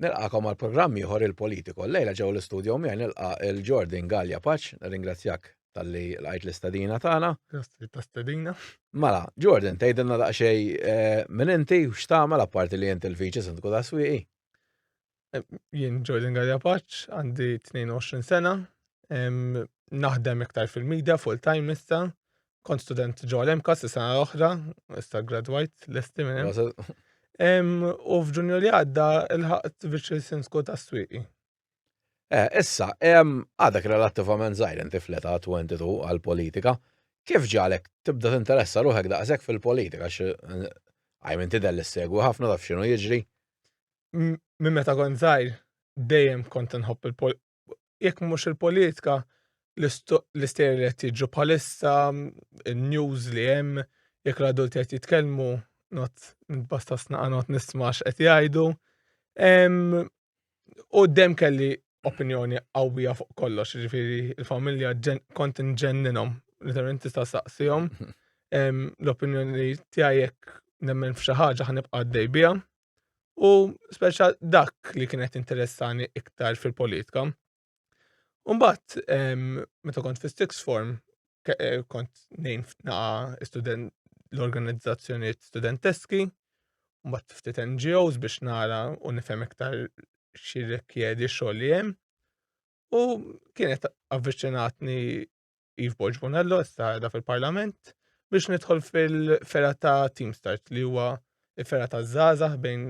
Nilqakom għal programm ieħor il-politiku. Lejla ġew l-istudio miegħi nilqa' il-Jordan Galja Paċ, ringrazzjak tal-li lqajt l-istadina tagħna. Grazzi ta' stadina. Mela, Jordan, tgħidilna daqsxejn eh, minn inti u x'tagħmel apparti li inti l-viċi sindku ta' swieqi. Jien Jordan Garjapaċ, għandi 22 sena, naħdem iktar fil-media full-time issa, kont student ġo l-emka s sena l-oħra, issa graduajt l-esti minn U f'ġunju li għadda il-ħaqt biex il-sinsku ta' s-swiqi. Eh, issa, għadak relattivament zaħir inti fleta 22 għal-politika, kif ġalek tibda t-interessa ruħek daqsek fil-politika, għajmin tidel l-segwi ħafna taf xinu jiġri? minn meta kont żgħir dejjem kont inħobb il jekk mhux il-politika l-istejjer li qed jiġu bħalissa, in-news li hemm, jekk l-adulti qed jitkellmu, not nitbasta snaqa not nisma' x'qed jgħidu. U dejjem kelli opinjoni qawwija fuq kollox, ġifieri il-familja kont inġenninhom, literalment tista' saqsihom l-opinjoni tiegħi jekk nemmen f'xi ħaġa ħanibqa' għaddej biha. u speċa dak li kienet interessani iktar fil-politika. Umbat, meta kont fi Stix Form, eh, kont nejn naqa student l-organizzazzjoniet studenteski, umbat ftit NGOs biex nara u nifhem iktar xirrikjedi xogħol li hemm. U kienet avviċinatni Yves Borg Bonello, issa qiegħda fil-Parlament, biex nidħol fil-fera ta' Team Start li huwa il-fera ta' żgħażagħ bejn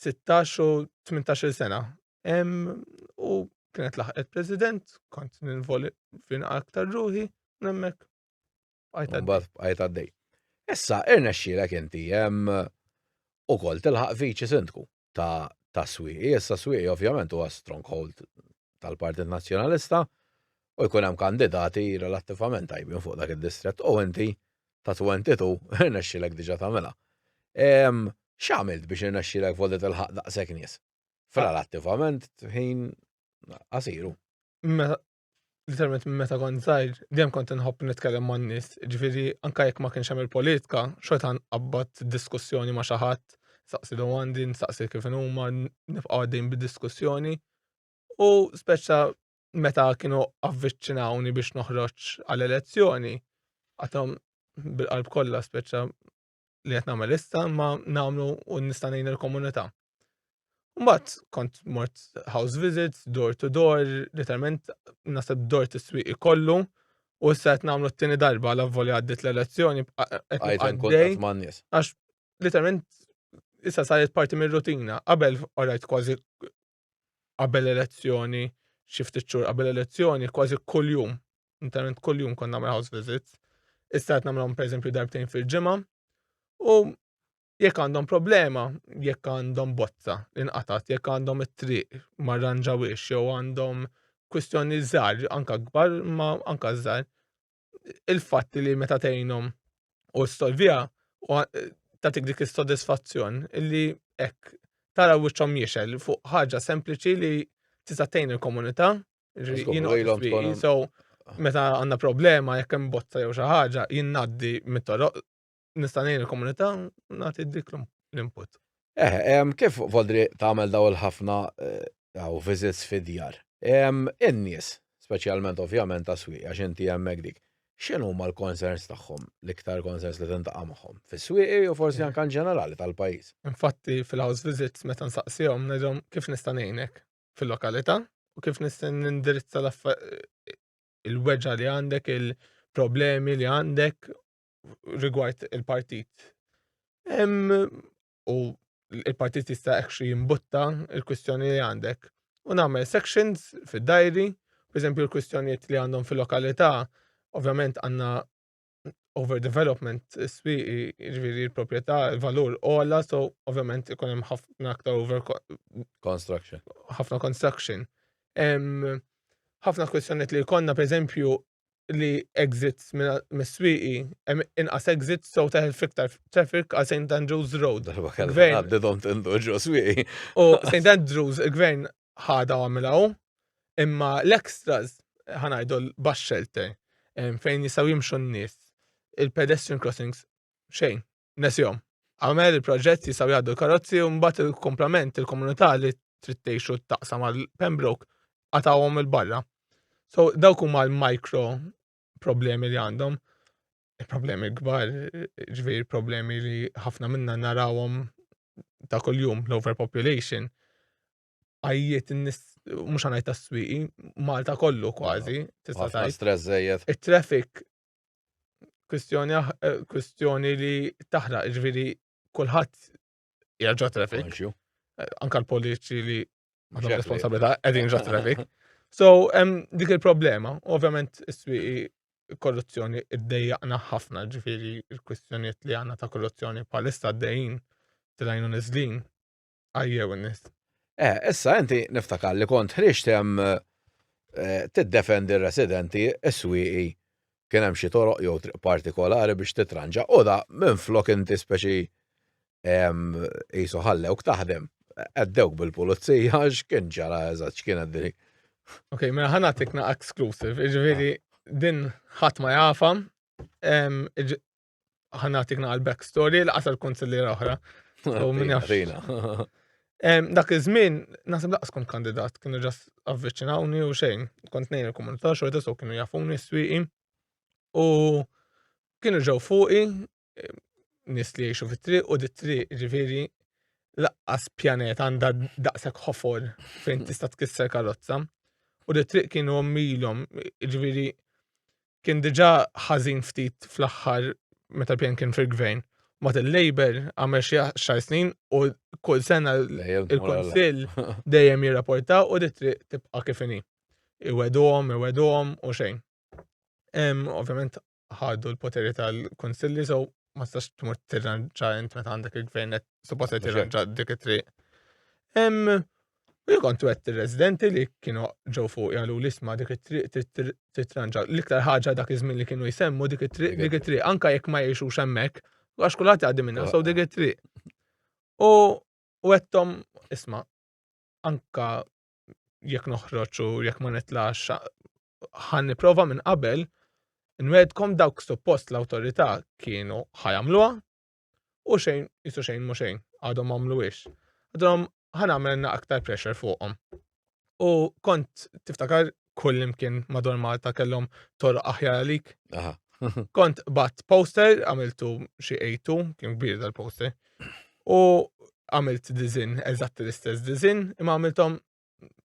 16 u 18 sena. U kienet laħqet President, kont ninvoli fin aktar ruħi, nemmek. Għajt għaddej. Issa, irna xxilek inti, u kol tilħaq viċi sindku. ta' tas-swieqi. Issa swieqi ovvjament huwa stronghold tal-Partit Nazzjonalista u jkun hemm kandidati relattivament tajbin fuq dak id-distrett u inti ta' 22 irnexxilek diġà tagħmilha. Ehm, X'għamilt biex irnexxilek vodi tilħaq daqshekk nies? F'relattivament ħin qasiru. Mela, literalment minn meta kont żgħir, dejjem kont inħobb nitkellem man nies, ġifieri anke jekk ma kienx hemm il-politika, xorta nqabbad diskussjoni ma' xi ħadd, saqsi domandi, nsaqsi kif huma, nibqa' għaddejn bid-diskussjoni. U speċa meta kienu avviċinawni biex noħroġ għal elezzjoni, għatom bil-qalb kollha speċa li qed nagħmel issa ma nagħmlu u nista' ngħin il-komunità. Mbagħad kont mort house visits, door to door, literalment nasab door to swieq ikollu u issa qed nagħmlu t-tieni darba la voli għaddit l-elezzjoni għax literalment issa saret parti mir-rutina. Qabel orajt kważi qabel elezzjoni, xi ftit xhur qabel elezzjoni, kważi kuljum, internet kuljum kont nagħmel house visits. Issa qed nagħmlhom pereżempju darbtejn fil-ġimgħa. U jekk għandhom problema, jekk għandhom bozza inqatat, jekk għandhom it-triq ma rranġawiex jew għandhom kwistjoni żgħar, anka kbar ma anka żgħar, il-fatt li meta tgħinhom u stolvija u eh, tatik dik is-sodisfazzjon li hekk tara wiċċhom jixel fuq ħaġa sempliċi li tista' tgħin il-komunità. So, meta għandna problema jekk hemm botta jew xi ħaġa jinnaddi mit-toroq nista' ngħin il-komunità nagħti dik l-input. Eh, kif Vodri tagħmel daw il-ħafna daw eh, visits fid-djar? In-nies, speċjalment ovvjament ta' swieq għax inti hemmhekk dik. X'inhu ma l-concerns tagħhom, l-iktar concerns li tintaqa' magħhom fis-swieqi u forsi eh. anke ġenerali tal-pajjiż. Infatti fil-house visits meta nsaqsihom ngħidhom kif nista' ngħinek fil-lokalità u kif nista' nindirizza il-weġġa li għandek, il-problemi li għandek rigward il-partit. U il-partit jista' ekxi jimbutta il-kwistjoni li għandek. U nagħmel sections fid-dajri, per eżempju l-kwistjonijiet li għandhom fil-lokalità, ovvjament għandna overdevelopment swi ġviri l-propieta, il-valur ola, so ovvjament ikun hemm ħafna aktar over construction. ħafna construction. Ħafna kwestjoniet li jkollna, per eżempju, li exits mis-swieqi, hemm inqas exits so teħel fiktar traffic għal St. Andrews Road. Darba kellha Gvern. għaddidhom tindu ġo swieqi. U St. Andrews, il-gvern ħada u għamilaw, imma l-extras, ħanajdu l-bus shelter, em, fejn jistaw jimxu n-nies, il-pedestrian crossings, xejn. nesihom. Agħmel il-proġett jistgħu jgħaddu l-karozzi u mbagħad il-kumplament il-komunità li trid tgħixu taqsam għal Pembroke qatawhom il-barra. So dawk huma l-micro problemi li għandhom. Il-problemi kbar, ġviri problemi li ħafna minna narawhom ta' kuljum l-overpopulation. Għajjiet n-nis, mux għanaj ta' s-swiqi, Malta kollu kważi, tista' tajt. Stress zejet. Il-traffic kwistjoni eh, kwistjoni li taħraq ġviri kulħadd jarġa' traffic. Eh, anka l-politiċi li għandhom responsabilità qegħdin ġa traffic. So, hemm dik il-problema, ovvjament is-swieqi korruzzjoni id-dejjaqna ħafna ġifiri il-kwistjoniet li għanna ta' korruzzjoni palista d-dejn tilajnu nizlin Ajjew n-nis. Eh, issa inti niftakar li kont ħriġt hemm eh, tiddefendi r-residenti s-swieqi kien hemm xi toroq jew triq partikolari biex titranġa u da minn flok inti speċi qisu ħallewk taħdem għaddewk bil-pulizija x'kien ġara eżatt x'kien għaddili. Ok, mela ħana tikna exclusive, ġifieri din ħadd ma jafa, ħan nagħtik naqal back story laqas għal konsillera oħra. U minn jaf. Dak iż-żmien naħseb laqas kont kandidat, kienu ġast avviċinawni u xejn. Kont nejn il-komunità xorta so kienu jafuni s-swieqi. U kienu ġew fuqi nis li jiexu fit-triq u dit-triq ġifieri laqqas pjanet għandha daqshekk ħofor fejn tista' tkisser karozza. U dit-triq kienu omilhom ġifieri Kien diġà ħażin ftit fl-aħħar meta l-PN kien fil-Gvern. Mbagħad il-Labour għamel xi għaxar snin u kull sena il-Kunsill dejjem jirrapporta u di triq tibqa' kif inhi. Iweduhom, iweduhom u xejn. Ovvjament ħadu l-poteri tal-Kunsilli so ma tistax tmur tirranġa int meta għandek il-gvern qed suppost qed tirranġa dik it-triq. Hemm u jien kont wett ir-residenti li kienu ġew fuq jagħlu li sma' dik it-triq titranġa. L-iktar ħaġa dak iż-żmien li kienu jsemmu dik it-triq dik it-triq anke jekk ma jgħixux hemmhekk għax kulħadd jgħaddi minn sew dik it-triq. U wettom isma' anka jekk noħroġ u jekk ma nitlax ħan niprofa minn qabel nwedkom dawk suppost l-awtorità kienu ħajamluha u xejn jisu xejn mu xejn għadhom għamluwiex. Għadhom ħan għamilna aktar pressure fuqhom. U kont tiftakar kull imkien madwar Malta kellhom torq aħjar għalik. Kont bat poster, għamiltu xi ejtu, kien kbir dal-poster. U għamilt dizin, eżatt l-istess dizin, imma għamiltom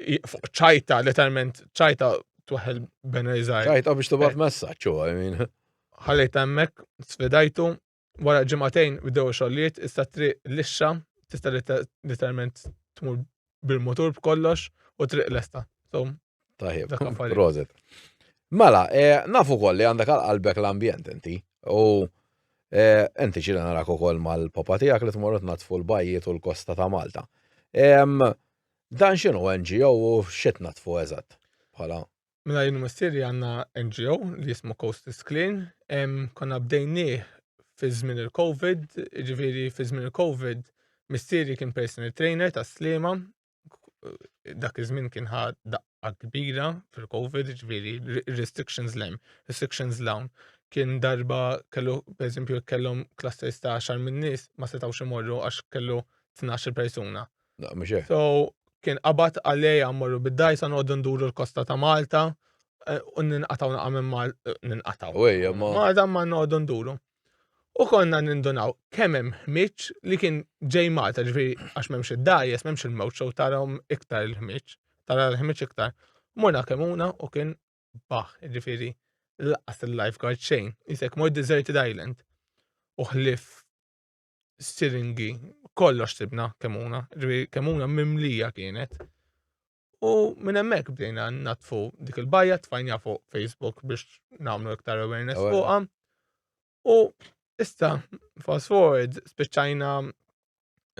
fuq ċajta, letteralment ċajta tuħel benajzaj. Ċajta biex tubat eh. messaċ u għajmin. Ħallejt emmek, sfidajtu, wara ġimatejn bdew xolliet, issa triq lixxa, tista letteralment tmur bil-motur b'kollox u triq lesta. So, Tajib, rozet. Mela, eh, nafu koll li għandek għal-qalbek l-ambjent inti. U eh, inti ċila narak ukoll mal-papa tijak li tmorru natfu l-bajjiet u l-kosta ta' Malta. Dan x'inhu NGO u x'qed natfu eżatt bħala? Mela jien u missieri għandna NGO li jismu Coast is Clean. Konna bdejnieh fi żmien il-COVID, ġifieri fi żmien il-COVID missieri kien personal trainer ta' slima dak iż-żmien kien ħa daqqa kbira fil-COVID, ġifieri restrictions lem, restrictions lawn. Kien darba kellu pereżempju kellhom clusters ta' xar minn nies ma setgħux imorru għax kellu 12 persuna. Mhux hekk? So, kien qabad qal li ejja mmorru bid-dgħajsa noqogħdu nduru l-kosta ta' Malta eh, u ninqatgħu naqa' minn Malta, eh, ninqatgħu. U ejja ma. Malta ma noqogħdu nduru. U konna nindunaw kemm hemm ħmiġ li kien ġej Malta, ġifieri għax m'hemmx id-dajes, m'hemmx il-mewt xew tarahom iktar il-ħmiġ, tara l-ħmiġ iktar. Morna kemuna u kien baħ, ġifieri laqas il-lifeguard xejn, jisek mor deserted island. U ħlif siringi, kollox sibna kemuna, kemuna mimlija kienet. U minn hemmhekk bdejna natfu dik il-bajja tfajnja fuq Facebook biex nagħmlu iktar awareness fuqha. U issa fast forward spiċċajna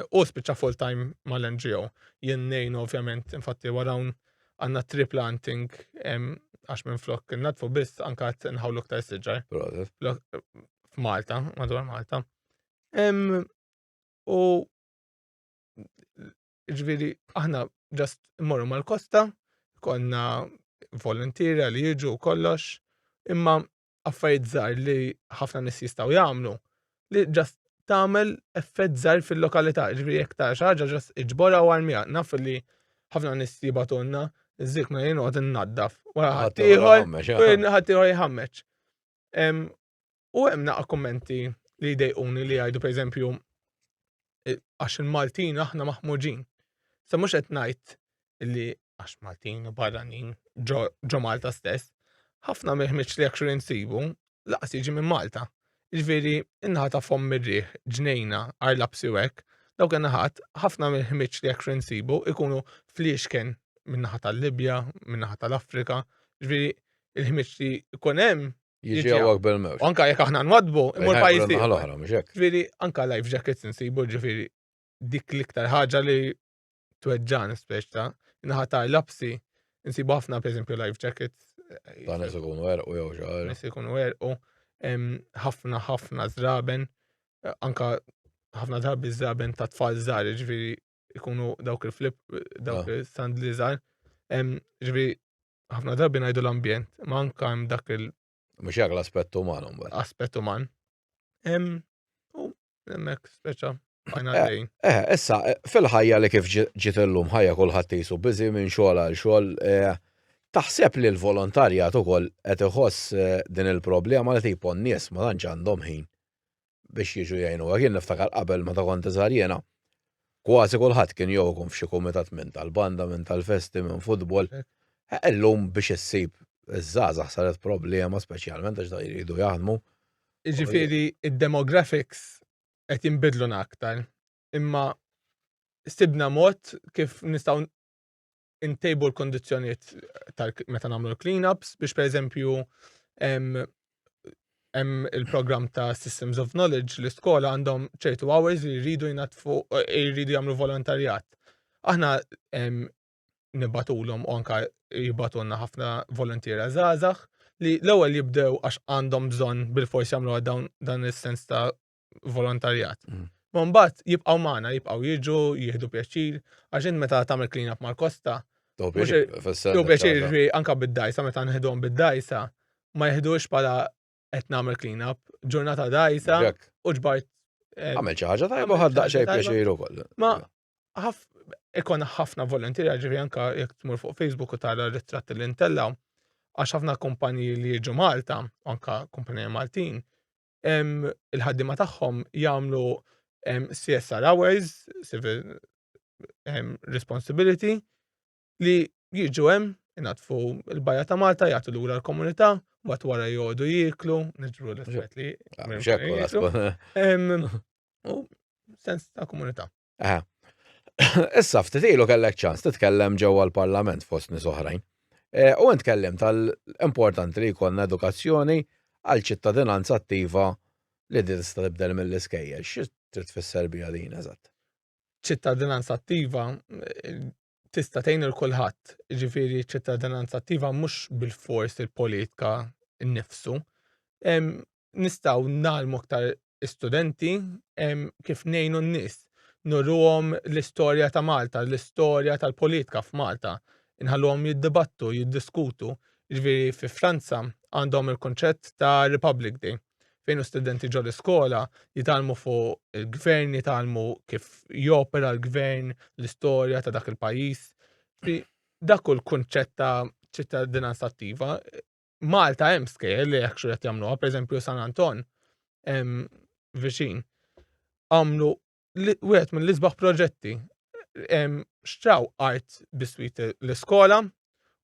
u spiċċa full time mal-NGO. Jien nejn ovvjament infatti warawn għandna trip planting għax minn flok natfu biss anka nħawlu iktar siġar. F'Malta, madwar Malta. U ġviri, aħna ġast morru mal-kosta, konna volontira li jiġu u kollox, imma affarijiet żgħar li ħafna nis jistgħu jagħmlu li ġast tagħmel effett żgħar fil-lokalità, ġviri jekk tara xi ħaġa ġast iġborha u armija. Naf li ħafna nis jibatunna, zik ma jien għod naddaf. Wara ħaddieħor, ħaddieħor jħammeċ. U hemm naqa' kummenti li jdejquni li jgħidu pereżempju e, għax il-Maltin aħna maħmuġin. Sa mhux qed ngħid li għax Maltin u barranin ġo Malta stess, ħafna mill-ħmiġ li actually nsibu laqas jiġi minn Malta. Ġifieri innaħa ta' fomm mirriħ, ġnejna, arla bsiwek, daw kien naħat ħafna mill-ħmiġ li actually nsibu ikunu fliexken minnaħa tal-Libja, minnaħa tal-Afrika, ġifieri il-ħmiġ li jkun hemm Jiġi għawak bil-mewġ. Anka jek aħna nwadbu, imur pajis ti. Għal-ohra, mxek. Ġviri, anka life jackets nsibu ġviri dik liktar ħagġa li tweġġan speċta. Naħata lapsi, nsibu ħafna, per esempio, life jackets. Eh, ta' nis ikun wer u jew xaħar. Nis ikun wer u ħafna ħafna zraben, eh, anka ħafna drabi zraben ta' tfal zar, ġviri ikunu dawk il-flip, dawk ah. il-sandli zar. Ġviri, ħafna drabi ngħidu l-ambjent, ma anka hemm dak il- Mhux hekk l-aspett uman mbagħad. Aspett uman. Hemm u hemmhekk speċa bajna eh, dejn. Eh, issa eh, fil-ħajja li kif ġiet illum ħajja kulħadd jisu biżi minn xogħol għal xogħol eh, taħseb li l-volontarjat ukoll qed iħoss din il-problema li tipo n-nies ma tantx għandhom ħin biex jiġu jgħinuha. Jien niftakar qabel meta kont iżgħar jiena kważi kulħadd kien jew ikun f'xi kumitat minn tal-banda, minn tal-festi, minn futbol. Illum biex issib iż-żgħażagħ saret problema speċjalment għax dawn iridu jaħdmu. Jiġifieri d-demographics qed jinbidluna aktar imma sibna mod kif nistgħu intejbu l-kondizjoniet meta nagħmlu l-cleanups biex pereżempju hemm il-programm ta' Systems of Knowledge li skola għandhom ċertu hours li jridu jnatfu jridu jagħmlu volontarjat. Aħna nibatulhom u anka jibatulna ħafna volontiera żgħażagħ li l-ewwel jibdew għax għandhom bżonn bil-fors jagħmlu dawn dan is-sens ta' volontarjat. Mm. Ma mbagħad jibqgħu magħna, jibqgħu jiġu, jieħdu pjaċir, għax int meta tagħmel clean up mal-kosta. Jew pjaċir ġri anka bid-dajsa meta nħidhom bid-dajsa, ma jihdux bħala qed nagħmel clean up, ġurnata dajsa u ġbart. Eh, għamel xi ħaġa tajba ħad daqsxejn pjaċir ukoll. Ma ikon ħafna volontira ġifi anka jekk tmur fuq Facebook u tara ritratti li ntella għax ħafna kumpanji li jiġu Malta, anka kumpanji Maltin, il-ħaddiema tagħhom jagħmlu CSR hours, civil responsibility, li jiġu hemm inatfu l-bajja ta' Malta jagħtu lura l-komunità, mbagħad wara jgħodu jieklu, niġru l-effett li. Ah, u sens ta' komunità. Eh. Issa ftit ilu kellek ċans titkellem ġewwa l-Parlament fost nies oħrajn. Eh, u int kellim tal-importanti li jkollna edukazzjoni għal ċittadinanza attiva li din tista' tibdel mill-iskejjel. Xi trid tfisser biha din eżatt? ċittadinanza attiva eh, tista' tgħin il kulħadd, ġifieri ċ-ċittadinanza attiva mhux bil-fors il-politika nnifsu. Nistgħu nagħlmu aktar studenti kif ngħinu n-nies, nurruhom l-istorja ta' Malta, l-istorja tal-politika f'Malta, inħalluhom jiddibattu, jiddiskutu. Ġifieri fi Franza għandhom il-kunċett ta' Republic Day. fejn l-istudenti ġo l-iskola jitgħallmu fuq il-gvern, jitgħallmu kif jopera l-gvern, l-istorja ta' dak il-pajjiż. Dak u l-kunċett ta' ċittadinanza attiva. Malta hemm skejjel li hekk xi qed jagħmluha, pereżempju San Anton viċin għamlu wieħed mill-isbaħ proġetti xtraw art biswit l-iskola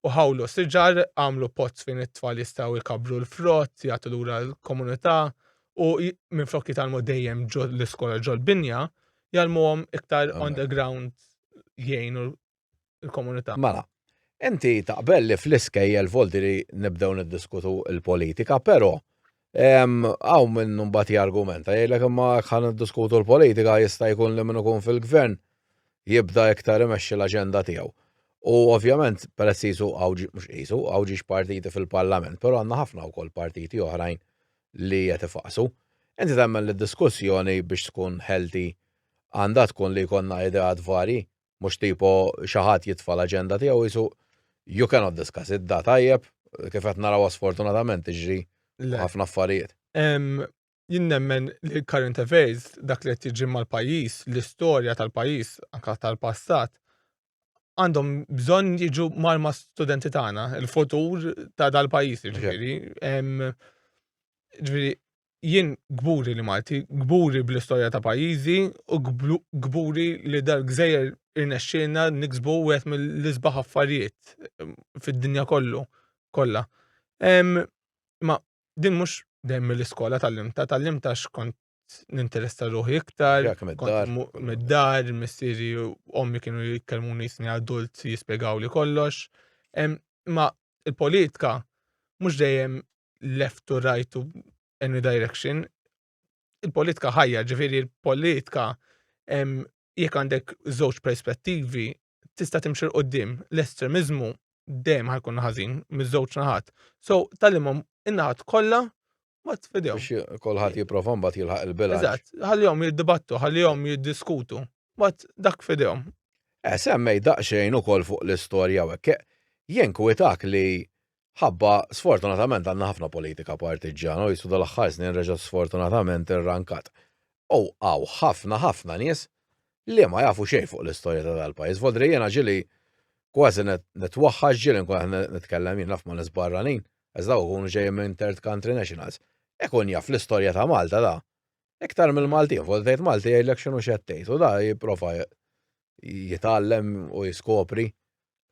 u ħawlu siġar għamlu pozz fejn it-tfal jistgħu jkabru l-frott, jagħtu lura l-komunità u minn flok jitalmu dejjem l-iskola ġol binja, jalmuhom iktar on the ground jgħinu il-komunità. Mela, inti taqbel li fl-iskejjel volti li nibdew niddiskutu l-politika, però għaw minn mbagħad jargumenta jgħidlek imma ħan niddiskutu l-politika jista' jkun li minn ikun fil-gvern jibda iktar imexxi l-aġenda tiegħu. U ovvjament peress qisu għawġi mhux qisu għawġi partiti fil-Parlament, però għandna ħafna wkoll partiti oħrajn li qed ifaqsu. Inti temmen li diskussjoni biex tkun healthy għandha tkun li jkollna ideat varji Mhux tipo xi ħadd jitfa' l-aġenda tiegħu jisu you cannot discuss it, da tajjeb, kif qed naraw sfortunatament tiġri ħafna affarijiet. Jien nemmen li current affairs, dak li qed jiġri mal-pajjiż, l-istorja tal-pajjiż, anke tal-passat, għandhom bżonn jiġu marma studenti tagħna, il-futur ta' dal-pajjiż, jiġifieri. Ġifieri, jien kburi li Malti, kburi bl-istorja ta' pajjiżi u kburi li dal-gżejjer irnexxielna niksbu wieħed mill-isbaħ affarijiet ehm, fid-dinja kollu kollha. Ehm, ma din mhux dejjem mill-iskola tal-limta, tal-limta x'kont ninteressa ruħi iktar, mid-dar, missieri u ommi kienu jitkellmuni jisni adult jispjegaw li kollox. Ehm, ma il-politika mhux dejjem left to right to any direction, il-politika ħajja, ġifiri il-politika jekk għandek żewġ perspettivi tista' timxil qoddim l-estremizmu dejjem ħajkun ħażin miż-żewġ naħat. So tal-imhom in-naħat kollha ma tfidew. Kolħat jiprofa mbagħad jilħaq il-bilanċ. Eżatt, ħallihom jiddibattu, ħallihom jiddiskutu. Bat dak fidejhom. Eh, semmej daqsxejn ukoll fuq l-istorja u hekk. Jenkwitak li Ħabba, sfortunatament għandna ħafna politika partiġġjana u jissu dal-aħħar snin reġa' sfortunatament irrankat. U hawn ħafna ħafna nies li ma jafu xejn fuq l-istorja ta' dal-pajjiż. Vodri jiena ġili kważi nitwaħħax ġili nkun qed nitkellem jien naf ma' nies barranin, għax daw ikunu ġejjin minn third country nationals. Ikun jaf l-istorja ta' Malta da. Iktar mill-Maltin, fuq tgħid Malti jgħidlek x'inhu x'qed tgħid u da jipprova jitgħallem u jiskopri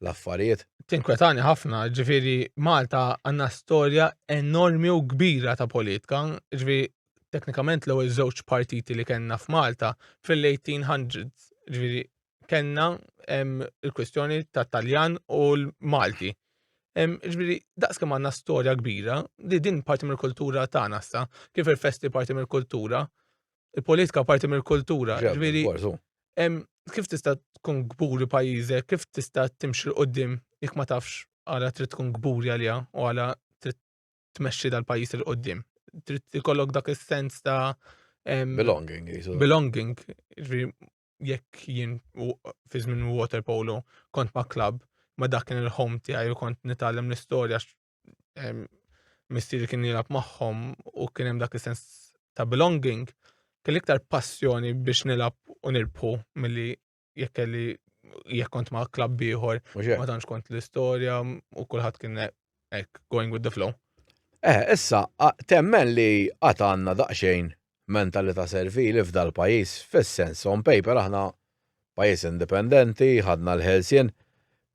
l-affarijiet. Tinkwetani ħafna, ġifieri Malta għandna storja enormi u kbira ta' politika, ġifieri teknikament l-ewwel żewġ partiti li kellna f'Malta fil-1800s, ġifieri kellna il-kwistjoni ta' Taljan u l-Malti. Ġviri, daqs kemm għandna storja kbira, li din parti mill-kultura tagħna sa, kif il-festi parti mill-kultura, il-politika parti mill-kultura. Ġviri, kif tista' tkun gburi pajjiżek, kif tista' timxi l-qoddim jekk ma tafx għala trid tkun gburi għalija u għala trid tmexxi dal-pajjiż il-qoddim. Trid ikollok dak is-sens ta' belonging. Belonging, jekk jien fi żmien water polo kont ma' klab ma' dak kien il-home tiegħi u kont nitgħallem l-istorja missieri kien jilgħab magħhom u kien hemm dak is-sens ta' belonging, kelli iktar passjoni biex nilgħab u nirbħu milli jekk kelli jekk kont ma' klabb ieħor, ma tantx kont l-istorja u kulħadd kien Ek, going with the flow. Eh, issa, temmen li għat għanna daqxejn mentalita servili f'dal pajis, fil-sens on paper aħna pajis indipendenti, ħadna l-ħelsien,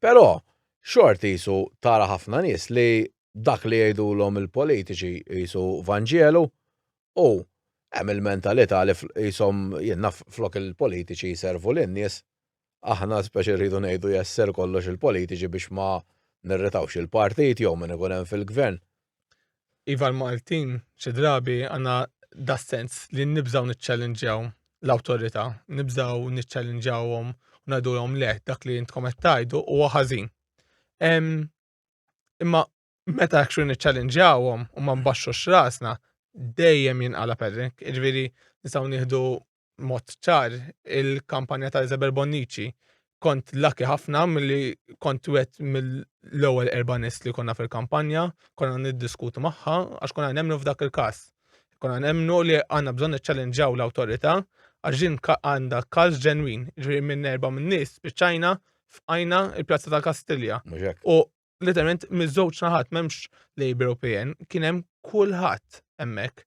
pero xorti jisu tara ħafna nis li dak li jgħidu l-om il-politiċi jisu vanġelu u hemm il-mentalita li jisom jenna flok il-politiċi jiservu l-nies aħna speċi rridu ngħidu yes sir kollox il-politiċi biex ma nirritawx il-partit jew min ikun hemm fil-gvern. Iva l-Maltin xi drabi għandna das-sens li nibżgħu niċċellinġjaw l-awtorità, nibżgħu niċċellinġjawhom u ngħidulhom le dak li intkom qed tgħidu huwa ħażin. Imma meta actually niċċallinġawhom u ma nbaxxu x'rasna, dejjem jinqala perrek. Ġifieri nistgħu nieħdu mod ċar il-kampanja ta' Isabel Bonnici. Kont laki ħafna milli kont wet mill-ewwel erba' nies li konna fil-kampanja, konna niddiskutu magħha għax konna nemmnu f'dak il-każ. Konna nemmnu li għandna bżonn niċċallinġaw l-awtorità għax din għandha każ ġenwin, ġifieri minn erba' min-nies spiċċajna f'qajna il-Pjazza tal-Kastilja. U literalment miż-żewġ naħat m'hemmx Labour u PN, kien hemm kulħadd hemmhekk.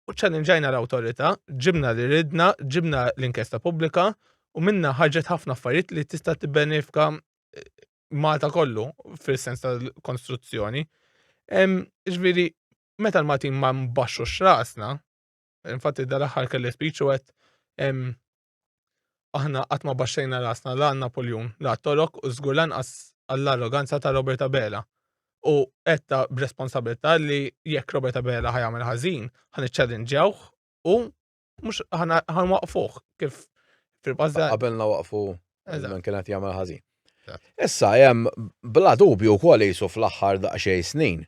U ċallinġajna l-awtorità, ġibna li ridna, ġibna l-inkjesta pubblika u minna ħarġet ħafna affarijiet li tista' tibbenefika eh, Malta kollu fil-sens tal-konstruzzjoni. Ġviri, meta l-Maltin ma mbaxxu x'rasna, infatti dal-aħħar kelli speech u għed Aħna qatt ma baxxejna rasna la għal Napoljun, la għat-Torok u żgur lanqas għall-arroganza ta' Robert Abela. U għedtha b'responsabbiltà li jekk Robert Abela ħa jagħmel ħażin, ħa niċċallinġjawh u mhux ħa nwaqqfuh kif fil-pastat. Qabilna waqfu minn kien qed jagħmel ħażin. Issa hemm bla dubju wkoll qisu fl-aħħar daqsxejn snin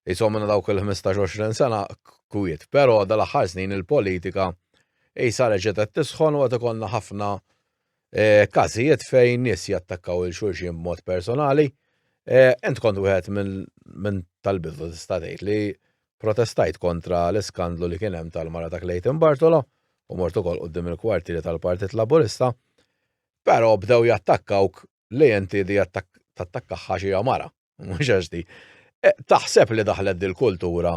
Qishom minn dawk il-ħmistax għoxrin sena kwiet, però dal-aħħar snin il-politika qisha reġgħet qed tisħon u qed ikollna ħafna każijiet fejn nies jattakkaw lil xulxin b'mod personali. Int kont wieħed minn tal-bidu tista' tgħid li protestajt kontra l-iskandlu li kien hemm tal-mara ta' Clayton Bartolo u mort ukoll quddiem il-kwartieri tal-Partit Laburista, però bdew jattakkawk li inti di tattakkaħħa xi mara. mhux għax di. E, taħseb li daħlet dil-kultura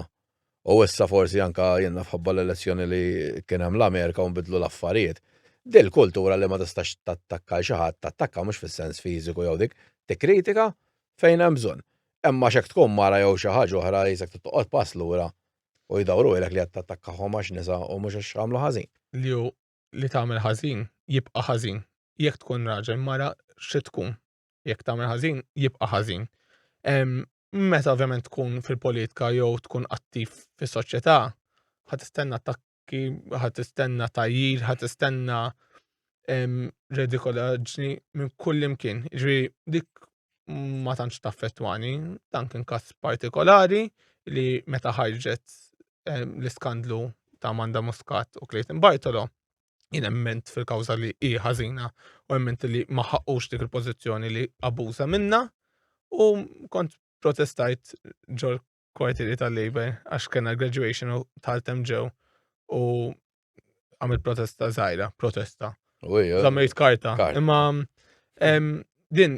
u issa forsi anka jenna fħabba l-elezzjoni li kien hemm l-Amerika u nbidlu l-affarijiet. Dil-kultura li ma tistax tattakka xi ħadd, tattakka mhux fis-sens fiżiku jew dik, tikkritika fejn hemm bżonn. Imma xek tkun mara jew xi ħaġa oħra jisek tittoqgħod pass lura u jdawru ilek li qed tattakkahom għax nisa u mhux għax għamlu ħażin. Li li tagħmel ħażin jibqa' ħażin. Jekk tkun raġel mara xi tkun. Jekk tagħmel ħażin, jibqa' ħażin. Meta ovvjament tkun fil-politika jew tkun attiv fis-soċjetà, ħad tistenna attakki, ħad tistenna tajjir, ħad tistenna redikolaġni minn kull imkien. Ġri dik ma tantx taffettwani, dan kien każ partikolari li meta ħarġet l-iskandlu ta' Manda Muscat u Clayton Bartolo, jien emment fil-kawża li hi ħażina u emment li ma ħaqqux dik il-pożizzjoni li abbuża minna u kont protestajt ġol kwartieri tal-Labor għax kena graduation u tal-tem ġew u għamil protesta zaħira, protesta. Zammejt karta. Imma din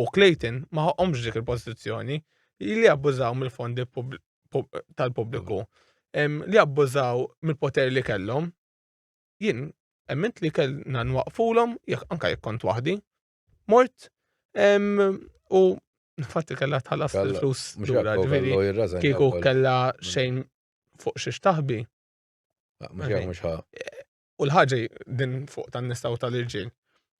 u Clayton ma ħoqhomx dik il-pożizzjoni li abbużaw mill-fondi tal-pubbliku li abbużaw mill-poter li kellhom. Jien emmint li kellna nwaqfulhom jekk anke jekk kont waħdi. Mort u fatti kellha tħallas il-flus lura ġifieri kieku kellha xejn fuq xi xtaħbi. Mhux U l-ħaġa din fuq tan-nisa u tal-irġiel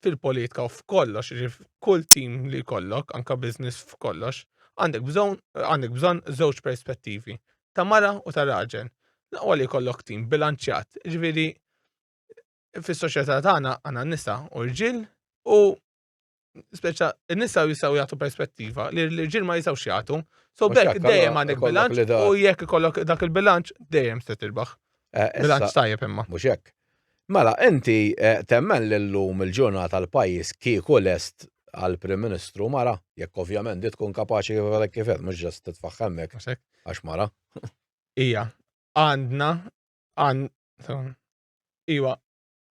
fil-politika u f'kollox, ġifieri f'kull tim li jkollok, anke business f'kollox, għandek bżonn għandek bżonn żewġ perspettivi, ta' mara u ta' raġel. L-aqwa li jkollok tim bilanċjat, ġifieri fis-soċjetà tagħna għandna nisa u rġiel u speċa n-nisa jistaw jagħtu perspettiva li l-ġil ma jistaw jagħtu. So bekk dejjem għandek bilanċ u jekk ikollok dak il-bilanċ dejjem se tirbaħ. Eh, bilanċ tajjeb imma. Mhux hekk. Mela, inti eh, temmen li llum il-ġurnata l-pajjiż kieku lest għal prim ministru mara, jekk ovvjament di tkun kapaċi kif kif qed mhux ġast titfaħħemmek għax mara. Ija, għandna għand Iwa,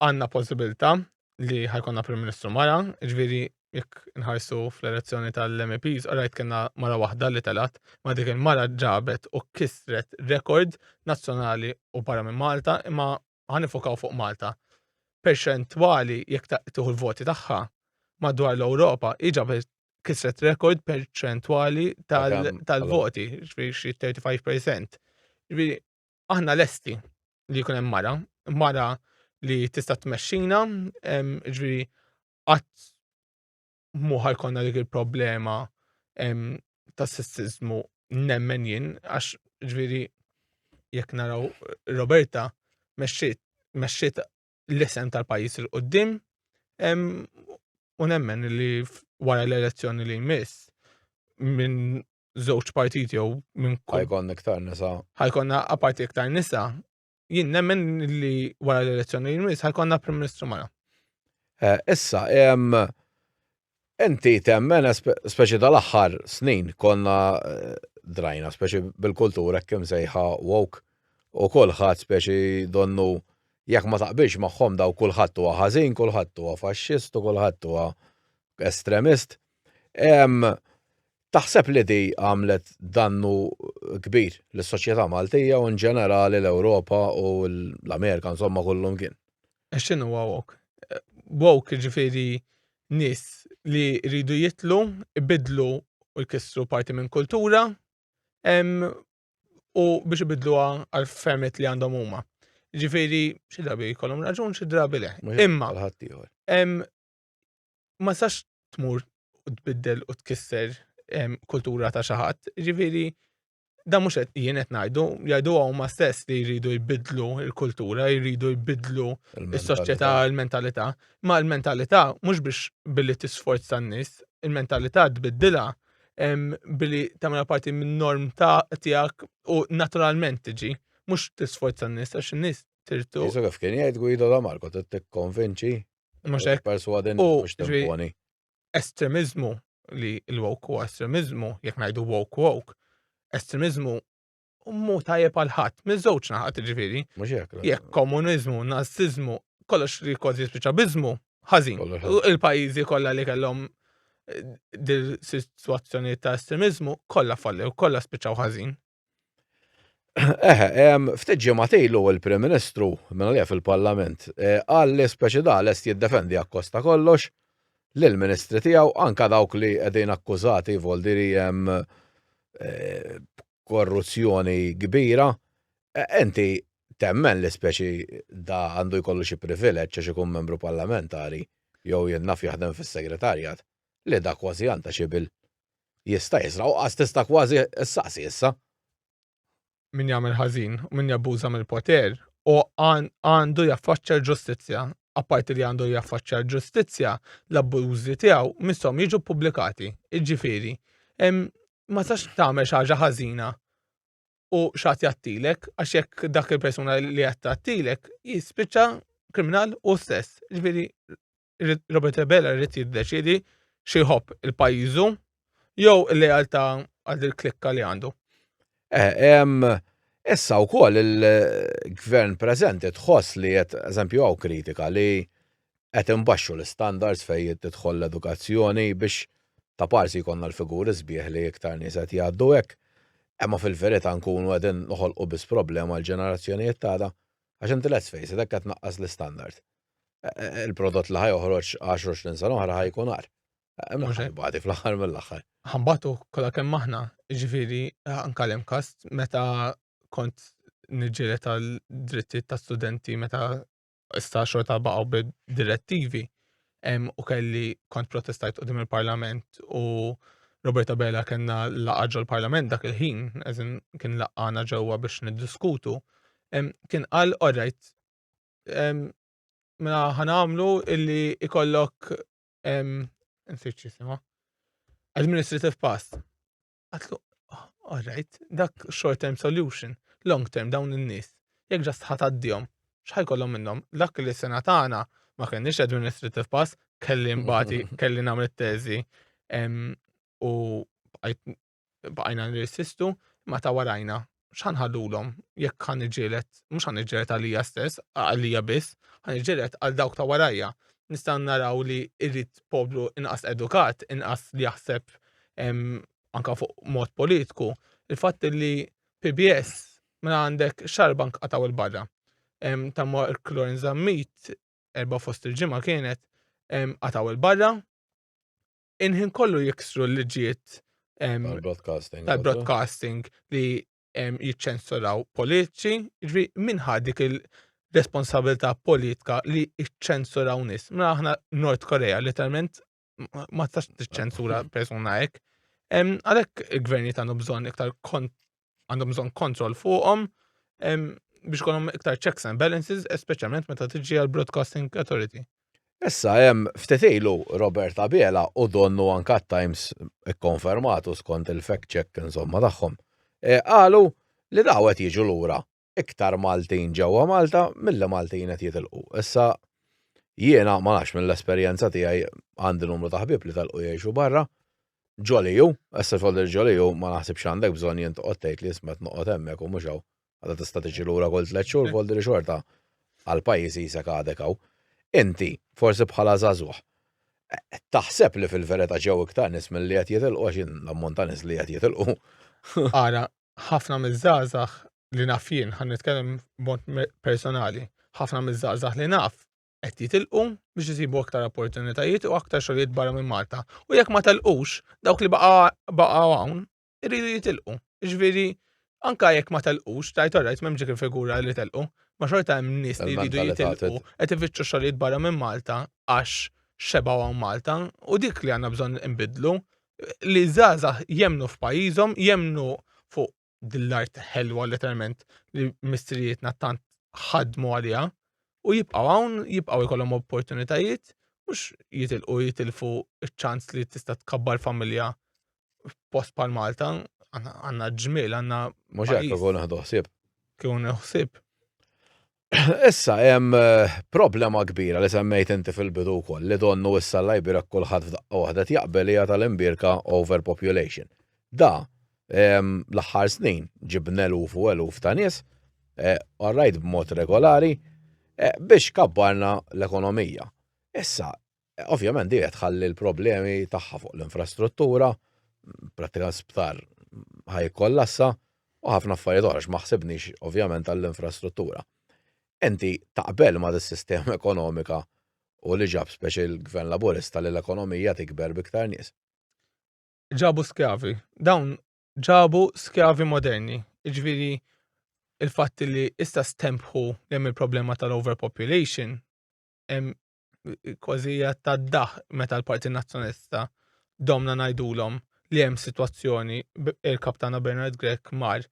għandna possibilità li ħajkonna Prim Ministru mara, ġviri jekk nħarsu fl-elezzjoni tal-MEPs, rajt kena mara waħda li telat, ma dik il-mara ġabet u kisret rekord nazzjonali u barra minn Malta, imma ħanifukaw fuq Malta. Perċentwali jekk tieħu l-voti tagħha madwar l-Ewropa, iġabet kisret rekord perċentwali tal-voti, ġviri xi 35%. Ġviri, Aħna lesti li jkun hemm mara, mara li tista' tmexxina, ġri qatt muħal konna dik il-problema ta' sessizmu nemmen jien, għax ġviri jekk naraw Roberta mexxiet l-isem tal-pajis il-qoddim u nemmen li wara l-elezzjoni li jmiss minn żewġ partiti jew minn ħajkonna iktar nisa. Ħajkonna aparti iktar nisa. Jien nemmen li wara l-elezzjoni li jmiss ħajkonna Prim Ministru Mara. Eh, issa, Inti temmen, speċi tal-aħħar snin, konna drajna, speċi bil-kultura kim sejħa woke, u kulħadd speċi donnu jekk ma taqbilx magħhom daw kulħadd huwa ħażin, kulħadd huwa faxxist u kulħadd huwa estremist. Taħseb li di għamlet dannu kbir lis-soċjetà Maltija u inġenerali l-Ewropa u l-Amerika insomma kull imkien? Għax x'inhu huwa woke? Woke jiġifieri nies li jridu jitlu, ibiddlu u jkissru parti minn kultura u biex ibiddluha għal fehmiet li għandhom huma. Jiġifieri xi drabi jkollhom raġun xi drabi le. Imma ma sax tmur u tbiddel u tkisser kultura ta' xi ħadd, jiġifieri da mhux qed jien qed ngħidu, jgħidu huma stess li jridu jbidlu l-kultura, jridu jbidlu s-soċjetà, l-mentalità. Ma l-mentalità mhux biex billi tisforz tan-nies, il-mentalità tbiddilha billi tagħmel parti min-norm ta' tiegħek u naturalment tiġi, mhux tisforz tan-nies għax in-nies tirtu. Isu kif kien jgħid Guido da Marco tikkonvinċi. Mhux hekk. Perswadin mhux timponi. estremiżmu li l-woke huwa estremiżmu, jekk ngħidu woke woke, estremiżmu mhu tajjeb għal ħadd, miż-żewġ naħat ġifieri. Jekk komuniżmu, naziżmu, kollox li kważi spiċċa biżmu, ħażin. Il-pajjiżi kollha li kellhom eh, dil-sitwazzjoni ta' estremiżmu kollha fallew, kollha spiċċaw ħażin. Eħe, ftit ġimgħat ilu il-Prim Ministru, minn għalija fil-Parlament, eh, qal li speċi da lest jiddefendi akkosta kollox lill-Ministri tiegħu anka dawk li qegħdin akkużati voldiri hemm eh, korruzzjoni kbira. Eh, enti temmen li speċi da għandu jkollu xi privileġġ għax ikun membru parlamentari jew jennaf jaħdem fis-segretarjat li da kważi għandha xi bil. Jista' jisraq u qas tista' kważi ssaqsi issa. Min jagħmel ħażin u min jabbuża mill-poter hu għandu jaffaċċja l-ġustizzja. Apparti li għandu jaffaċċja l-ġustizzja, l-abbużi tiegħu misshom jiġu ppubblikati. Jiġifieri, ma tistax tagħmel xi ħaġa ħażina u xi ħadd jgħattilek għax jekk dak il-persuna li qed tgħattilek jispiċċa kriminal hu stess. Jiġifieri, Robert Abela rrit jiddeċidi xi jħobb il-pajjiżu jew il-lealtà għal il-klikka li għandu. Eh, issa wkoll il-gvern preżenti tħoss li qed eżempju hawn kritika li qed imbaxxu l-istandards fejn tidħol l-edukazzjoni biex ta' parsi jkollna l-figuri sbieħ li iktar nies qed jgħaddu hekk. Imma fil-verità nkunu qegħdin noħolqu biss problema l-ġenerazzjonijiet tagħna għax inti let's face it qed naqqas l-istandard. il-prodott li ħajoħroġ 10-20 sena oħra ħajkun għar. Badi fl-aħħar mill-aħħar. Ħambatu kollha kemm aħna, ġifieri anke hemm każ meta kont niġġieled għal drittijiet ta' studenti meta issa xorta baqgħu direttivi u kelli kont protestajt qudiem il-Parlament u Roberta Bella kellna laqgħa ġol-Parlament dak il-ħin, eżin kien laqgħana ġewwa biex niddiskutu, kien qal orajt Mela ħanamlu illi ikollok nsir ċisima. Administrative pass. Għatlu, oh, all right, dak short term solution, long term dawn in-nies. Jekk ġast ħataddihom, x'ħaj kollhom minnhom? Dak li sena tagħna ma kenniex administrative pass, kelli mbati, kelli nagħmel teżi u Bqajna nirsistu, imma ta' warajna, x'ħa nħallulhom, jekk ħa niġġieled, mhux ħa niġġieled għalija stess, għalija biss, ħa niġġieled għal dawk ta' warajja. Nistgħu naraw li rrid poplu inqas edukat, inqas li jaħseb anke fuq mod politku. Il-fatt li PBS mela għandek xarba nqatgħu il barra. Ta' Mark Lawrence Zammit, erba' fost il-ġimgħa kienet, qatgħu il barra, inħin kollu jiksru l-liġijiet tal-broadcasting li jiċċensuraw politiċi, ġvi minħa dik il-responsabilità politika li jiċċensuraw nis. Ma mela aħna Nord Korea literalment ma tax tiċċensura persuna hekk. Għalhekk il-gvernijiet għandu bżonn iktar kont għandhom bżonn kontroll fuqhom biex kollhom iktar checks and balances, speċjalment meta tiġi għal Broadcasting Authority. Issa hemm ftetilu Robert Abela u donnu anka Times ikkonfermatu skont il-fact check insomma tagħhom. E, qalu li daw qed jiġu lura iktar Maltin ġewwa Malta milli Maltin qed jitilqu. Issa jiena ma nafx mill-esperjenza tiegħi għandi numru ta' ħbieb li telqu jgħixu barra. Ġoliju, issa xogħol il-ġoliju ma naħsibx għandek bżonn jien toqgħod tgħid li ismet noqgħod hemmhekk u mhux hawn. Għadha tista' tiġi lura kull tliet xhur voldi li xorta għal pajjiż qisek għadek hawn. Inti, forsi bħala żagħżugħ, taħseb li fil-verità ġew iktar nies milli qed jitilqu għax l-ammont ta' nies li qed jitilqu. Ara, ħafna miż-żgħażagħ li naf jien, ħan nitkellem b'mod personali, ħafna miż-żgħażagħ li naf qed jitilqu biex isibu aktar opportunitajiet u aktar xogħlijiet barra minn Malta. U jekk ma telqux, dawk li baqgħu hawn iridu jitilqu. Ġifieri anka jekk ma telqux, tajt orajt m'hemm dik il-figura li telqu, ma xorta hemm nies li jridu jitilqu qed ifittxu xogħlijiet barra minn Malta għax xebgħu hawn Malta u dik li għandna bżonn inbidlu li żgħażagħ jemnu f'pajjiżhom, jemnu fuq dil-art ħelwa letteralment li mistrijietna tant ħadmu għaliha u jibqgħu hawn, jibqgħu jkollhom opportunitajiet, mhux jitilqu jitilfu ċ-ċans li tista' tkabbar familja f'post bħal Malta, għandna ġmiel, għandna. Mhux hekk ukoll naħdu ħsieb. Kieku naħsib. Issa hemm eh, problema kbira li semmejt inti fil-bidu wkoll li donnu issa l-Liberek kulħadd f'daqqa waħda jaqbel hija tal-imbierka overpopulation. Da ehm, l-aħħar snin ġib eluf u eluf ta' nies, eh, orrajt b'mod regolari, eh, biex kabbarna l-ekonomija. Issa, Ovvjament di qed tħalli l-problemi tagħha fuq l-infrastruttura, prattikament sptar ħaj kollassa u ħafna affarijiet oħra ma ħsibniex ovvjament għall-infrastruttura. Inti taqbel ma' dis-sistema ekonomika u li ġab speċi l-Gvern Laburista li l-ekonomija tikber b'iktar nies? Ġabu skjavi. Dawn ġabu skjavi moderni. Jiġifieri il-fatt li issa stempħu li hemm il-problema tal-overpopulation hemm kważi ta' daħ meta l-Parti Nazzjonista domna ngħidulhom li hemm sitwazzjoni il-kaptana Bernard Grek mar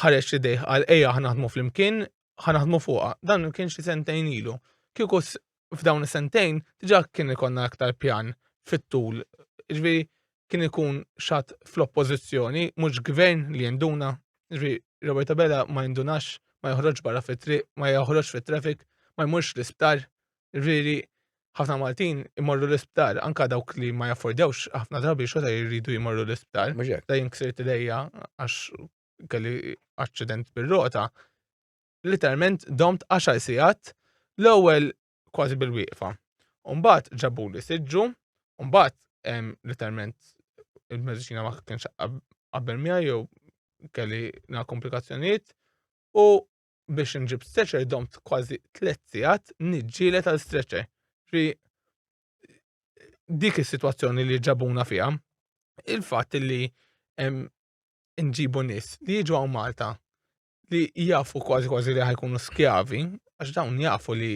ħareġ li dejħ għal ejja ħanaħdmu flimkien ħanaħdmu fuqha. Dan kien xi sentejn ilu. Kieku f'dawn is-sentejn diġà kien ikonna aktar pjan fit-tul. Ġifieri kien ikun xat fl-oppożizzjoni, mhux gvern li jinduna, ġri Roberta Bella ma jindunax, ma joħroġ barra fit-triq, ma joħroġ fit-traffic, ma jmurx l-isptar, ġviri ħafna Maltin imorru l-isptar, anka dawk li ma jaffordewx ħafna drabi xorta jridu jmorru l-isptar. Da jinksirt lejja għax kelli accident bil-rota. Literalment domt 10 sijat l-ewwel kważi bil-wieqfa. Umbat ġabu li siġġu, umbat literalment il-medicina ma kienx qabel mija jew kelli na komplikazzjoniet u biex nġib stretcher domt kważi tliet sigħat niġġielet għal stretcher. Ġri dik is-sitwazzjoni li ġabuna fiha, il-fatt li nġibu nies li jiġu għaw Malta li jafu kważi kważi li ħajkunu skjavi, għax dawn jafu li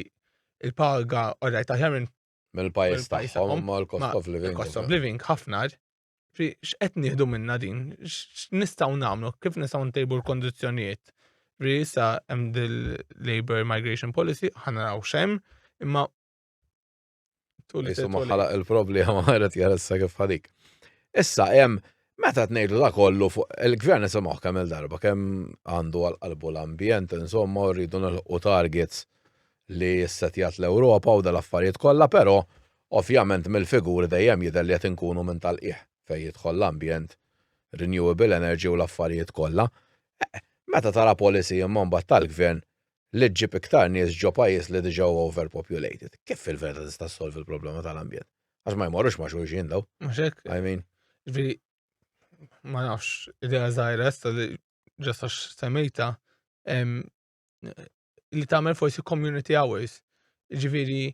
il-paga orrajt aħjar minn mill-pajis tagħhom ma l-cost of living. Cost of living ħafna x'qed nieħdu minna din, x'nistgħu nagħmlu, kif nistgħu ntejbu l-kondizzjonijiet. Ri sa hemm dil-Labor Migration Policy, ħanaraw xem, imma Isu maħħalaq il-problema għaret jaressa kif ħadik. Issa, jem, meta t-nejdu da kollu fuq il-gvern nisimaw kemm il-darba, kemm għandu għal-qalbu l-ambjent, insomma, rridu nil-u targets li jissetjat l-Europa u dal-affarijiet kollha, pero ovvjament mill-figuri dejjem jidher li qed inkunu minn tal-qiegħ fejn jidħol l-ambjent, renewable energy u l-affarijiet kollha. Eh, meta tara policy imman bat tal-gvern, li ġġib iktar nies ġo pajjiż li diġà huwa overpopulated. Kif fil-verità tista' ssolvi l-problema tal-ambjent? Għax ma jmorrux ma' xulxin daw. Mhux hekk. I mean. Ġifieri ma nafx idea żgħira sta li ġasta semmejta li tagħmel forsi community hours. Ġifieri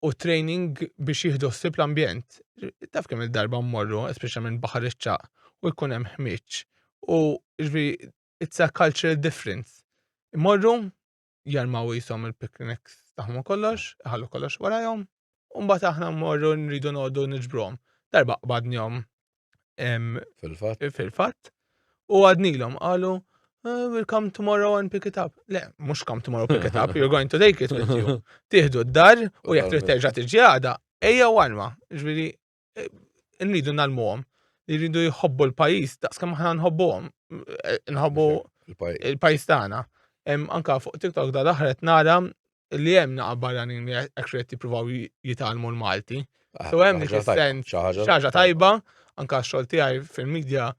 u training biex jieħdu ħsieb l-ambjent. Taf kemm il-darba mmorru, speċjalment baħar iċċaq, u jkun hemm ħmieġ. U ġifieri it's a cultural difference. Imorru, jarmaw jisom il-picnics taħmu kollox, ħallu kollox warajom, un-bat aħna morru nridu nodu nġbrom. Darba qbadnjom fil-fat. Fil-fat. U għadnilom, għalu, ah, we'll come tomorrow and pick it up. Le, mux come tomorrow pick it up, you're going to take it with you. Tihdu d-dar u jek trid terġa tiġi għada, eja warma. Ġviri, eh, rridu nalmuhom li rridu jħobbu l-pajis, daqs kemm aħna nħobbuhom, eh, nħobbu il-pajis tagħna. Anka fuq TikTok da daħret nara li hemm naqa' barranin li qed jippruvaw jitalmu l-Malti. Ah, so hemm dik is-sens ħaġa tajba, anka x-xogħol tiegħi fil-medja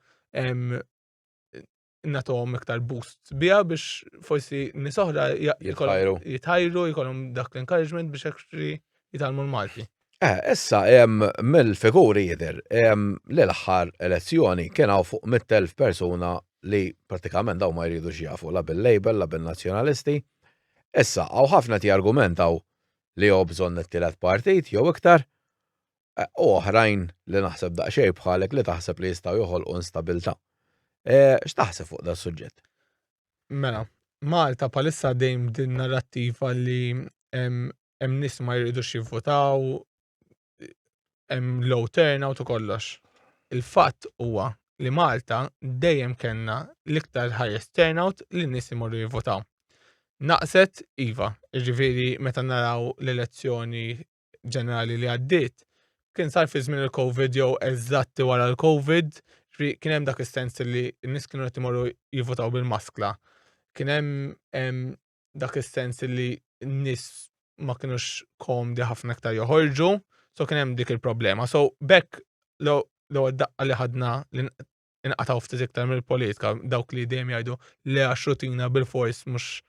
natom iktar boost biha biex forsi nis oħra jitħajru jkollhom dak l-encouragement biex actually jitalmu l-Malti. Eh, issa hemm mill-figuri jidher l-aħħar elezzjoni kien hawn fuq 100,000 persuna li pratikament daw ma jridu jafu la bil-label la bil-nazzjonalisti. Issa hawn ħafna ti argumentaw li jew bżonn it-tielet partit jew iktar u oħrajn li naħseb daqsxejn bħalek li taħseb li jistgħu joħolqu instabilità. X'taħseb fuq da suġġett? Mela, Malta palissa dejjem din narrattiva li hemm nies ma jridux jivvotaw, hemm low turnout u kollox. Il-fatt huwa li Malta dejjem kellna l-iktar highest turnout li nies imorru jivvotaw. Naqset iva, ġifieri meta naraw l-elezzjoni ġenerali li għaddiet, kien sar fi żmien il-Covid jew eżatti wara l-Covid, kien hemm dak is-sens li n-nies kienu qed imorru jivvotaw bil-maskla. Kien hemm dak is-sens li n-nies ma kienux komdi ħafna iktar joħorġu, so kien hemm dik il-problema. So bekk l-ewwel daqqa li ħadna inqataw ftit iktar mill-politika, dawk li dejjem jgħidu li għax rutina bil-fors mhux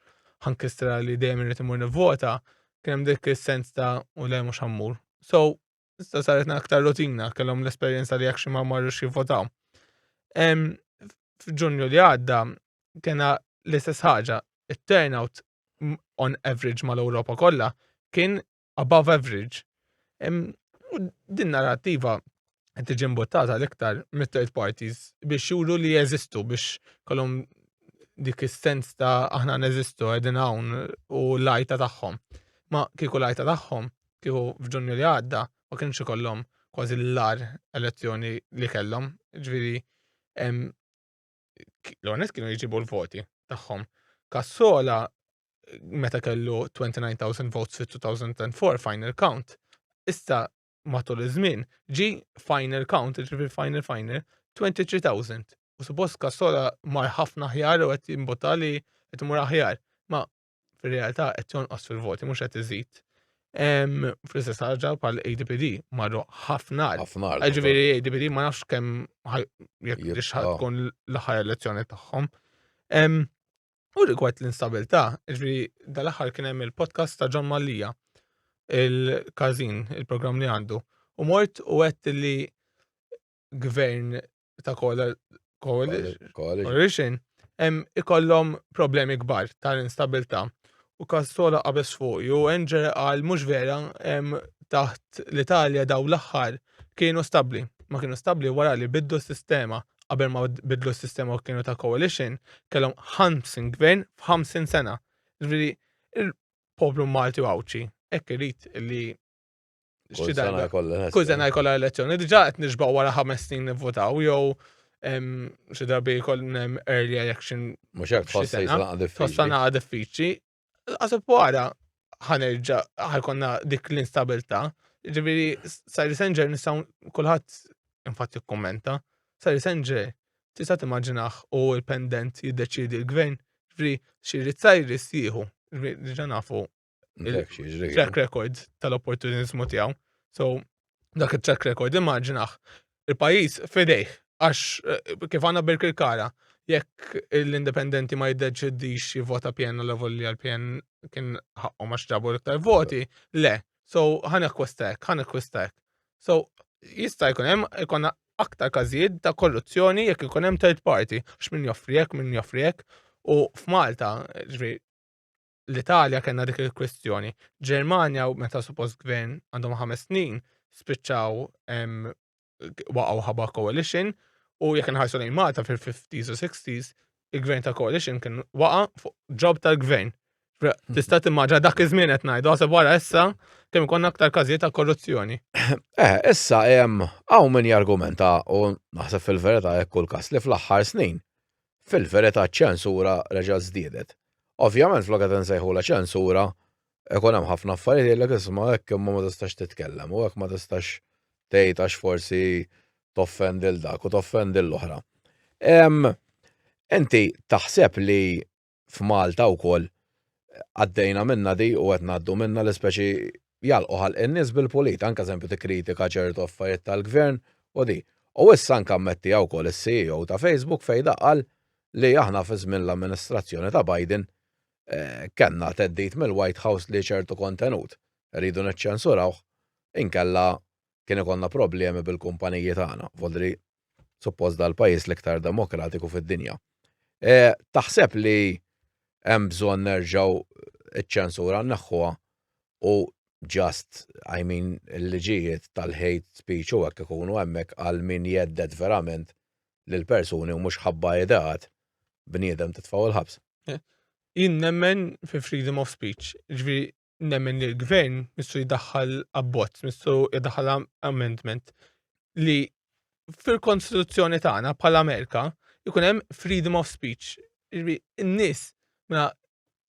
ħankistra li dejjem irid imur nivvota, kien hemm dik is-sens ta' u le mhux ħammur. So, issa saret aktar rutina, kellhom l-esperjenza li jekk xi ma marrux jivvotaw. F'Ġunju li għadda kena l-istess ħaġa, it-turnout on average mal-Ewropa kollha kien above average, u din narrativa qed tiġi mbuttata l-iktar mit-third parties biex juru li jeżistu biex kolom dik is-sens ta' aħna neżistu qegħdin hawn u l-għajta tagħhom. Ma kieku l-għajta tagħhom kieku f'Ġunju li għadda ma kienx ikollhom kważi l-lar elezzjoni li kellhom, ġifieri l-għonet kienu jġibu l-voti tagħhom. Kassola meta kellu 29,000 votes fi 2004 final count, issa matul iż-żmien ġi final count, ġifi final final 23,000. U suppost kassola mar ħafna ħjar u qed jimbota li qed imur aħjar. Ma fir-realtà qed jonqos fil-voti mhux qed iżid. Fl-istess ħaġa bħal ADPD marru ħafna ħafna. Ġifieri ADPD ma nafx kemm jekk biex tkun l-aħħar elezzjoni tagħhom. U rigward l-instabilità, ġifieri dal-aħħar kien hemm il-podcast ta' John Mallia il-każin, il-programm li għandu. U mort u għedt li gvern ta' coalition ikollhom problemi kbar tal-instabilità. U Kastola qabes fuq u Enger għal mhux vera taħt l-Italja daw l-aħħar kienu stabbli. Ma kienu stabbli wara li bidlu s-sistema qabel ma bidlu s-sistema u kienu ta' coalition kellhom 50 gvern f'50 sena. Ġifieri il-poplu Malti u Għawdxi hekk irid li Kull sena jkollha elezzjoni. Kull sena jkollha elezzjoni. Diġà qed nixbaq wara ħames snin nivvotaw jew xi darbi jkollna hemm early election. Mhux hekk tħoss jisnaqa diffiċli. Tħoss naqa diffiċli. Għasib wara ħanerġa ħajkonna dik l-instabilità. Ġifieri Sari Sanger nistgħu kulħadd infatti kkummenta. Sari Sanger tista' timmaġinaħ u l-pendent jiddeċiedi l-gvern. Ġifieri xi rizzajiris jieħu. Ġifieri diġà nafu track record tal-opportunizmu tiegħu. So, dak il-track record, immaġinaħ, il-pajis fidejh, għax eh, kif għanna bil-kirkara, jekk l-indipendenti ma jiddeċidix jivvota PN l li għal-PN kien ħakku ma xġabu l-iktar voti, le. So, ħan ekwistek, ħan ekwistek. So, jista' jkun hemm ikun aktar każijiet ta' korruzzjoni jekk ikun hemm third party, x'min joffri hekk, min joffri hekk. U f'Malta, ġri, l-Italja kellna dik il-kwistjoni. Ġermanja meta suppost gvern għandhom ħames snin spiċċaw waqgħu ħabba coalition u jekk inħarsu lejn Malta fil-50s u 60s il-gvern ta' coalition kien waqa' fuq ġob tal-gvern. Hmm. Tista' timmaġa dak iż-żmien qed ngħidu għasab wara issa kemm ikun aktar każijiet ta' korruzzjoni. Eh, issa hemm hawn min jargumenta u naħseb fil-verità hekk kull każ li fl-aħħar snin Fil-verità ċ-ċensura reġgħet żdiedet. Ovvjament flok qed insejħulha ċensura, ikun hemm ħafna affarijiet jgħidlek isma' hekk imma ma tistax titkellem u hekk ma tistax tgħid għax forsi toffendi lil dak u toffendi lil oħra. Inti taħseb li f'Malta wkoll għaddejna minnha di u qed ngħaddu minnha l-ispeċi jagħlqu ħalq in-nies bil-pulit, anke eżempju tikkritika ċertu affarijiet tal-Gvern u di. U issa anke ammettiha wkoll is-CEO ta' Facebook fejn daqqal li aħna fi żmien l-amministrazzjoni ta' Biden kellna theddid mill-White House li ċertu kontenut rridu niċċensurawh inkella kien ikollna problemi bil-kumpaniji tagħna, vodri suppost dal-pajjiż l-iktar demokratiku fid-dinja. E, taħseb li hemm bżonn nerġgħu ċ-ċensura naħħuha u just, I mean, il-liġijiet tal-hate speech u hekk ikunu hemmhekk għal min jeddet verament lil persuni u mhux ħabba ideat bniedem titfgħu l-ħabs. Eh, jien nemmen fi freedom of speech, ġifieri nemmen li l-gvern missu jdaħħal abbozz, missu jdaħħal amendment li fil-konstituzzjoni tagħna bħala Amerika jkun hemm freedom of speech. In-nies mela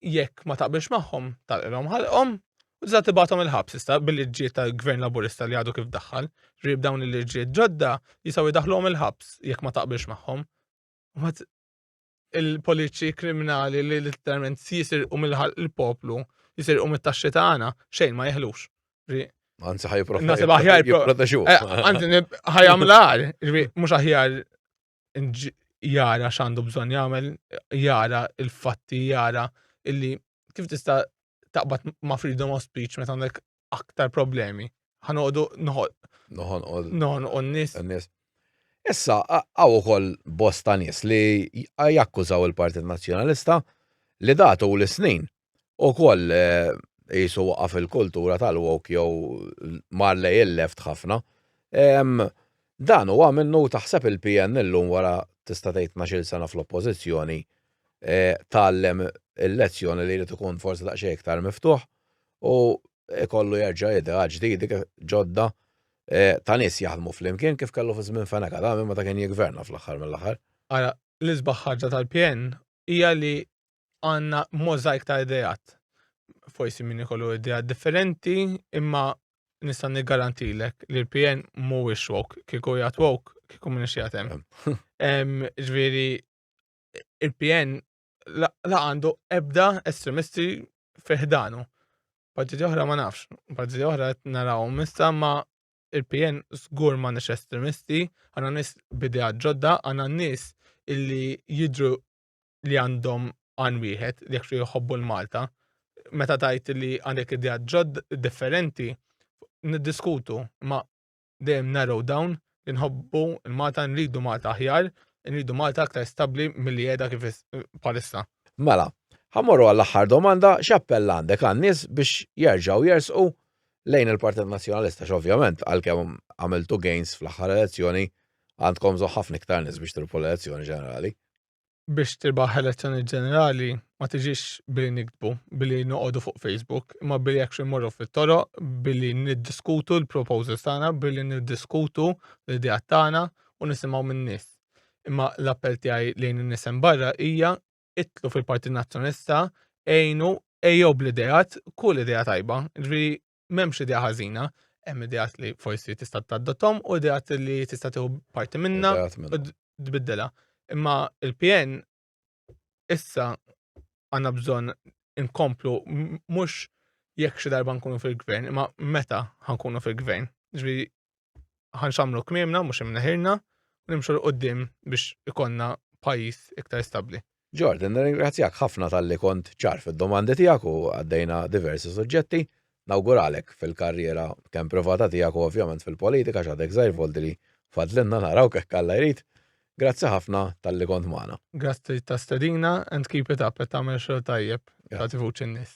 jekk ma taqbilx magħhom tal-qilhom ħalqhom u tista' tibgħathom il-ħabs issa bil-liġġiet tal-gvern laburista li għadu kif daħħal. Rib dawn il-liġġiet ġodda jistgħu jdaħħluhom il-ħabs jekk ma taqbilx magħhom. il-politiċi kriminali li literalment jisirqu mill-ħalq il-poplu, jisirqu mit-taxxi tagħna, xejn ma jeħlux. Anzi ħaj Nasib aħjar jipproteġu. Anzi eh, ħaj għamlar, mhux aħjar jara x'għandu bżonn jagħmel, jara il-fatti, jara illi kif tista' taqbad ma' freedom of speech meta għandek aktar problemi. Ħanoqdu noħol. Noħon u Noħon u n-nis. n-nies. Issa, a- għaw ukoll bosta nies li j- jakkużaw il-Partit Nazzjonalista li datu l snin u koll jisu waqaf il-kultura tal-wok jew mar lej il-left ħafna. Em, Dan huwa minnu taħseb il-PN illum wara tista' tgħid 12 sena fl-oppożizzjoni tgħallem il-lezzjoni li jrid ikun forsi daqsxejn iktar miftuħ u jkollu jerġa' ideat ġdidi ġodda ta' nies jaħdmu flimkien kif kellu fi żmien Fenech Adami meta kien jiggverna fl-aħħar mill-aħħar. Ara, l-isbaħ ħaġa tal-PN hija li għandna możajk ta' ideat. Forsi min ikollu ideat differenti imma nista' niggarantilek li l-PN mhuwiex woke. Kieku jgħat woke, kieku minix qiegħed hemm. Ġifieri il-PN la għandu ebda estremisti fiħdanu. Partiti oħra ma nafx, partiti oħra naraw mista ma il-PN zgur ma nix estremisti, għanna nis bidea ġodda, għanna nis illi jidru li għandhom għan wieħed li jekxu jħobbu l-Malta. Meta tajt li għandek idea ġodda differenti, niddiskutu, ma dejjem narrow down li nħobbu l-Malta, nridu Malta aħjar, nridu Malta aktar stabbli milli qiegħda kif bħalissa. Mela, ħa mmorru għall-aħħar domanda, x'appell għandek għan-nies biex jerġgħu jersqu lejn il-Partit Nazzjonalista għax ovvjament għalkemm għamiltu gains fl-aħħar elezzjoni għandkom bżonn ħafna iktar nies biex tilbu l-elezzjoni ġenerali. biex tirbaħ elezzjonijiet ġenerali ma tiġix billi niktbu, billi noqogħdu fuq Facebook, imma billi actually morru fit-toroq, billi niddiskutu l-proposals tagħna, billi niddiskutu l-idea tagħna u nisimgħu min-nies. Imma l-appell tiegħi lejn in-nies hemm barra hija itlu fil-Partit Nazzjonista, għinu ejjew bl-idejat, kull idea tajba. Ġifieri m'hemmx idea ħażina, hemm ideat li forsi tista' taddottom u ideat li tista' tieħu parti minna u tbiddela. Imma il-PN issa għandna bżonn inkomplu mhux jekk xi darba nkunu fil-gvern, imma meta ħankunu fil-gvern. Ġifieri ħanxamlu kmiemna mhux imneħirna u nimxu l qudiem biex ikonna pajjiż iktar stabbli. Jordan, nirringrazzjak ħafna talli kont ċar fid-domandi tiegħek u għaddejna diversi suġġetti. Nawguralek fil-karriera kemm privata tiegħek u ovvjament fil-politika x'għadek żgħir volti li fadlilna naraw hekk Alla jrid. Grazzi ħafna talli kont magħna. Grazzi ta' stedina and keep it up qed tagħmel xogħol tajjeb tagħti vuċi n-nies.